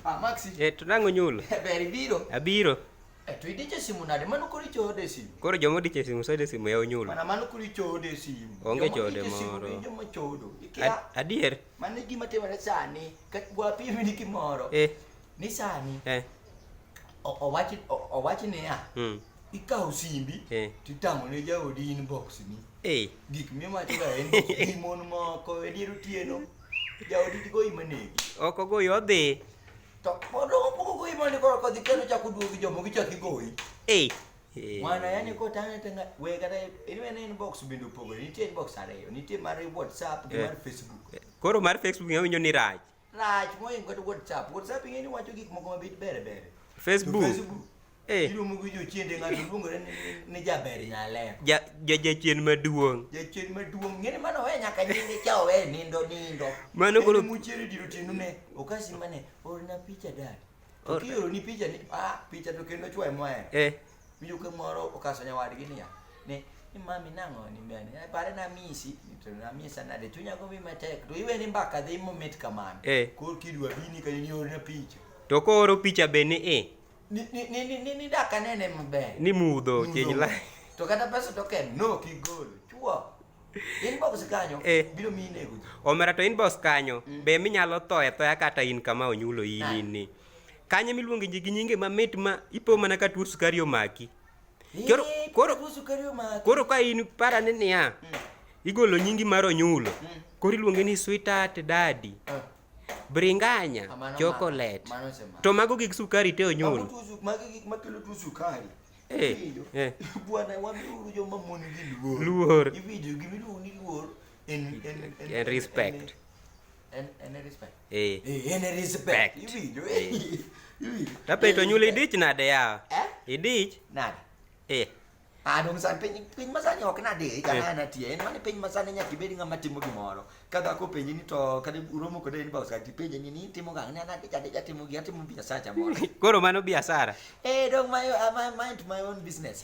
Ah, Maxi. Eh, to nango nyulo. Ber ibiro. Abiro. Eh, to idiche simu nade? Mano koro ichode simu. Koro jomo diche simu sode simu ya unyulo. Mana mano koro ichode simu. Onge chode moro. Jomo chodo. Ikia. Adier. Mano gima timore sani. Ka gwa pim ni kimoro. Eh. Ni sani. Eh. Owachi owachi ni ya. Hmm. ikawo simbi eh. titang'o ne jaodi inbox ni eh. gik mimachoga en gi mon moko e dier otieno jaodi tigoyi manegi ok ogoyi odhi to pod ogoyi mane koro kodhi kendo chako duogi jomo gichako igoyi eh. mwana yani kotang'e tanga we kata inwene inbox bende opogore nitie inbox ariyo nitie mar whatsapp gi mar facebook koro mar facebook awinjo ni rach rach mohingo kata whatsapp whatsapp ing'e ni wacho gik moko mabit bere bere facebook eh. iluongo gi jochiende ng'ato luongore ni jaber nyalero jachien maduong' jachien maduong' ng'eni mano owe nyaka nyinge cha owe nindo nindo mano koro muchiere diro tinune okasi mane orna picha dad Kioro ni picha ni ah picha to kendo chwae moe. Eh. Miyo ke moro okaso nyawadgi niya. Ne ni mami nang'o ni mbene. Eh, pare na misi, to na misa na de chunya go mi matek. To iwe ni mbaka dhi mo mit kamano. Eh. Kor kidwa bini ka ni orna picha. To ko oro picha be ni eh. Ni ni ni ni ni daka nene maber. Ni mudho chenyi la. To kata pesa to ken no kigol. Chwa. Inbox kanyo eh. biro miyi nego. Omera to inbox kanyo mm. be minyalo thoe thoya kata in kama onyulo in ah. ni. Kanye miluongo ji gi nyinge mamit ma ipo mana ka tuo sukari omaki. Koro koro koro ka in para ni niya. Mm. Igolo nyingi mar onyulo. Mm. Koro iluonge ni sweetheart daddy. Ah. Bringanya ah, chocolate. To mago gik sukari te onyulo. Mago gik makelo tuo sukari. Eh, Iwinjo? eh. Bwana, wamiuru joma mon gi luor. Luor. Iwinjo, gima iluongo ni luor en- en- en- En respect. en- en- en respect. Eh. Eh, en respect. Respect. Iwinjo, eh. Eh. Iwinjo. Tape to nyulo idich nade yawa? Eh? Idich? Nade? Eh. Ah, dong' sani piny piny masani ok nadiri ka Eh. nana tiyo en mani piny masani nyaka ibed ng'ama timo gimoro ka dhako openji ni to kata uromo kode en bausa ti penje ni ni timo gang na na ja ja timo gi atimo biashara cha moro koro mano biashara eh dog my uh, my mind my own business